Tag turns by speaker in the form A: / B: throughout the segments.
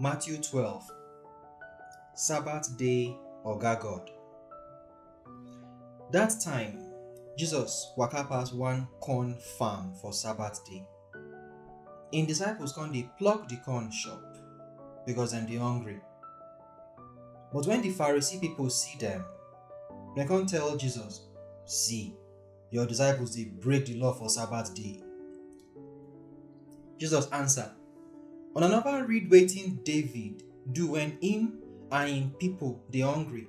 A: Matthew 12 Sabbath Day Oga God That time, Jesus waka pass one corn farm for Sabbath day. Im disciples come dey pluck di corn chop, becos dem dey hungry. But wen di Pharisee pipo see dem, dem come tell Jesus, See, your disciples dey break di law for Sabbath day. Jesus answer, Una neva read wetin David do wen im and im pipo dey hungry?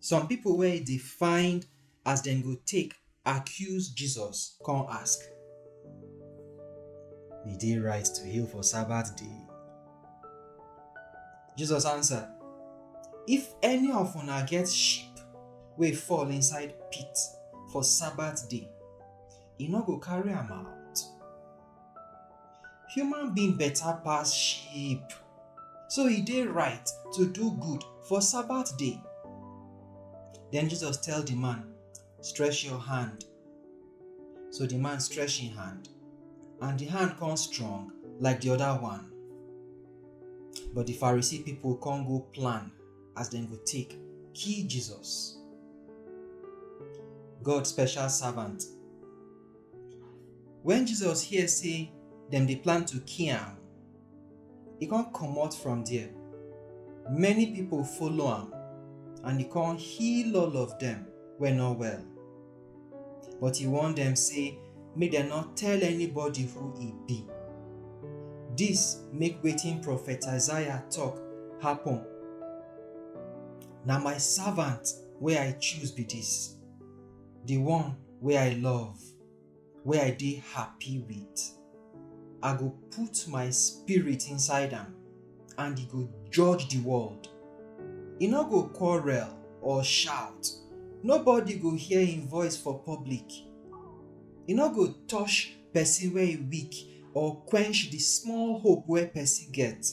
A: Some pipo wey dey find as dem go take accuse Jesus come ask, E dey right to heal for Sabbath day? Jesus answer, If any of una get sheep wey fall inside pit for Sabbath day, e no go carry am out? Human being better pass sheep. So e dey right to do good for Sabbath day. Then Jesus tell the man, stretch your hand. So the man stretch him hand, and the hand come strong like the other one. But the Pharisee people come go plan as dem go take kill Jesus. God special servant When Jesus hear say dem dey plan to kill am, e come comot from there. Many people follow am and e come heal all of dem wey no well. But e warn dem say make dem no tell anybody who e be. Dis make wetin prophet Isaiah talk happen. Na my servant wey I choose be dis. the one wey I love, wey I dey happy with, I go put my spirit inside am and e go judge the world. E no go quarrel or shout, nobody go hear im voice for public. E no go touch person wey e weak or quench the small hope wey person get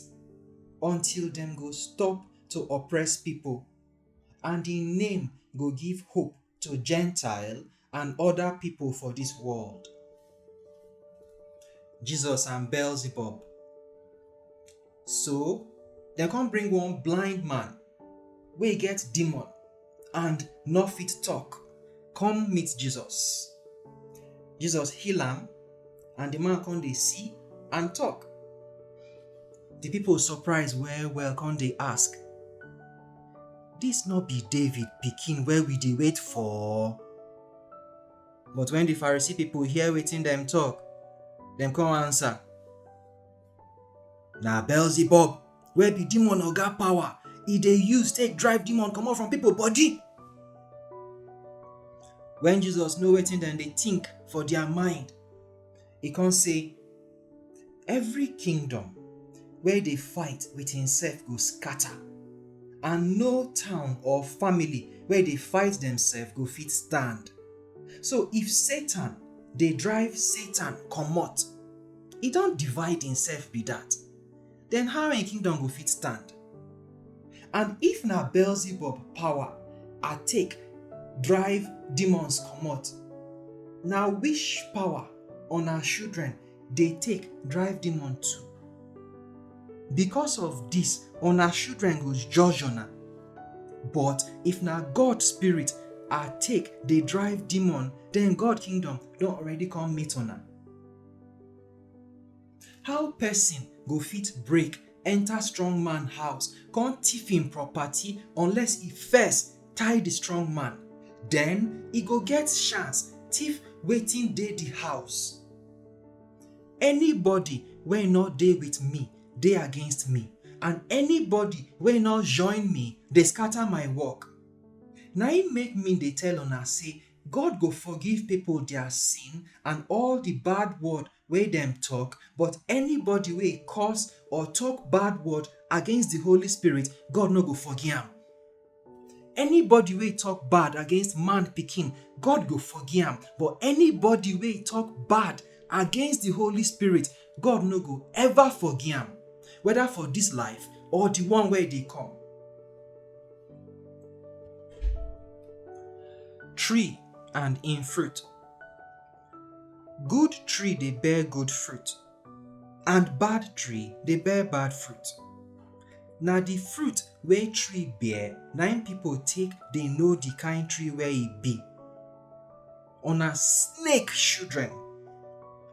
A: until dem go stop to oppress people. And im name go give hope to Gentile and other people for this world. Jesus and Beelzebub. So, dem come bring one blind man wey get demon and no fit talk come meet Jesus. Jesus heal am and the man come dey see and talk. The people surprise well well come dey ask, Dis no be David pikin wey we dey wait for? But wen di Pharisee pipo hear wetin dem tok, dem come ansa, Na Beelzebub wey be demon oga power e dey use take drive demon comot from pipo body. Wen Jesus know wetin dem dey tink for dia mind, e come say, Every kingdom wey dey fight with himself go scatter, and no town or family wey dey fight themselves go fit stand. So if Satan dey drive Satan comot, e don divide himself be that. den how im kingdom go fit stand? And if na Beelzebub power I take drive demons comot, na which power una children dey take drive demon too? Because of dis, una children go judge una. But if na God spirit I take dey drive demon, den God kingdom don already come meet una. How pesin go fit break enter strong man house come thief him property unless e first tie the strong man? Then e go get chance thief wetin dey the house. Anybody wey no dey with me dey against me, and anybody wey no join me dey scatter my work. Na im make me dey tell una say God go forgive people their sin and all the bad word wey dem tok, but anybody wey curse or tok bad word against di Holy Spirit, God no go forgi am. Anybody wey tok bad against man pikin, God go forgi am, but anybody wey tok bad against di Holy Spirit, God no go ever forgi am, whether for dis life or di one wey dey come. Tree and im fruit. Good tree dey bear good fruit, and bad tree dey bear bad fruit. Na the fruit wey tree bear na im people take dey know the kind tree wey e be. Una snake children!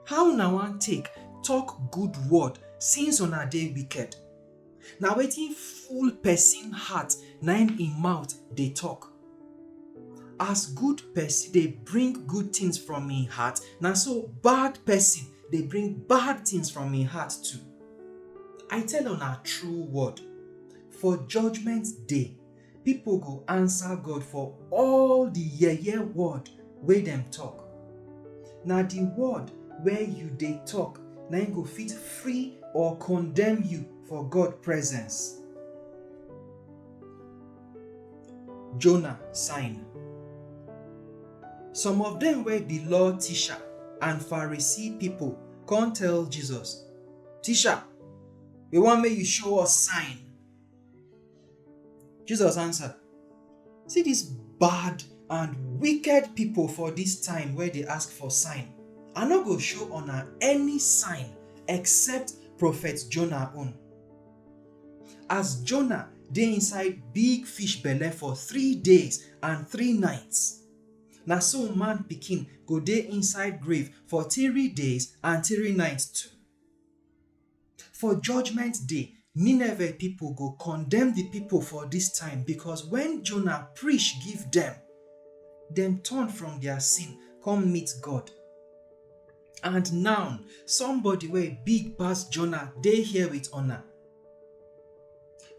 A: How una wan take talk good word since una dey wicked? na wetin full person heart na im im mouth dey talk. As good person dey bring good things from im heart, na so bad person dey bring bad things from im heart too. I tell una true word, for judgement day, Pipo go ansa God for all di yeye word wey dem tok. Na di word wey yu dey tok na im go fit free or kondemn yu for God presence. Jonah sign. Some of dem wey bi law tisha and Pharisee pipo kon tell Jesus, Tisha, wi won mek yu show us sign. Jesus answer, See dis bad and wicked pipo for dis time wey dey ask for sign. I no go show una any sign except prophet Jonah own. As Jonah dey inside big fish belle for three days and three nights, na so man pikin go dey inside grave for three days and three nights too. For judgment day, Nineveh pipo go condemn di pipo for dis time, becos wen Jonah preach give dem, dem turn from dia sin come meet God. And now, somebody wey big pass Jonah dey here wit una.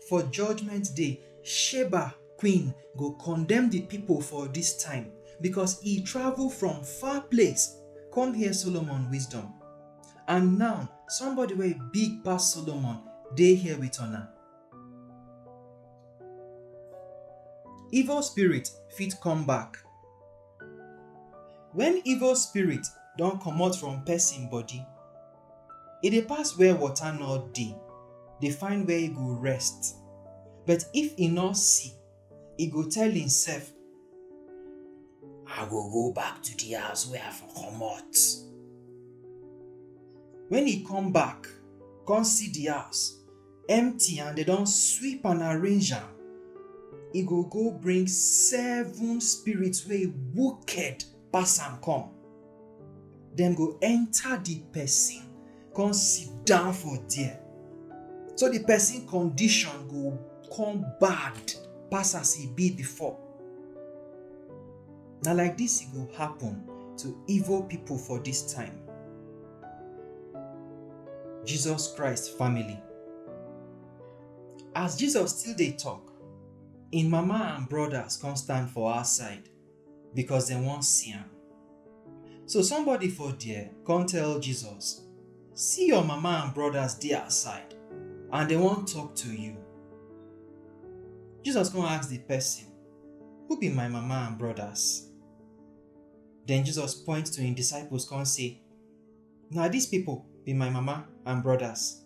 A: For judgment day, Sheba queen go condemn di pipo for dis time, becos e travel from far place come hear Solomon wisdom. And now, somebody wey big pass Solomon dey here with una. Evil spirit fit come back. When evil spirit don comot from person body, e dey pass where water no dey, dey find where e go rest. But if e no see, e go tell himself i go go back to the house wey i for comot when e come back come see the house empty and dem don sweep and arrange am e go go bring seven spirits wey wicked pass am come. Dem go enter the person, come sit down for there. So the person condition go come bad pass as e be before. Na like this e go happen to evil people for this time. Jesus Christ family. As Jesus still dey talk, im mama and brothers come stand for outside. because dem wan see am. So somebody for there come tell Jesus, See your mama and brothers dey outside and dem wan talk to you. Jesus come ask the person, Who be my mama and brothers? Then Jesus point to him disciples come say, Na these people be my mama and brothers.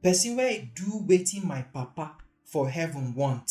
A: Person wey do wetin my papa for heaven want,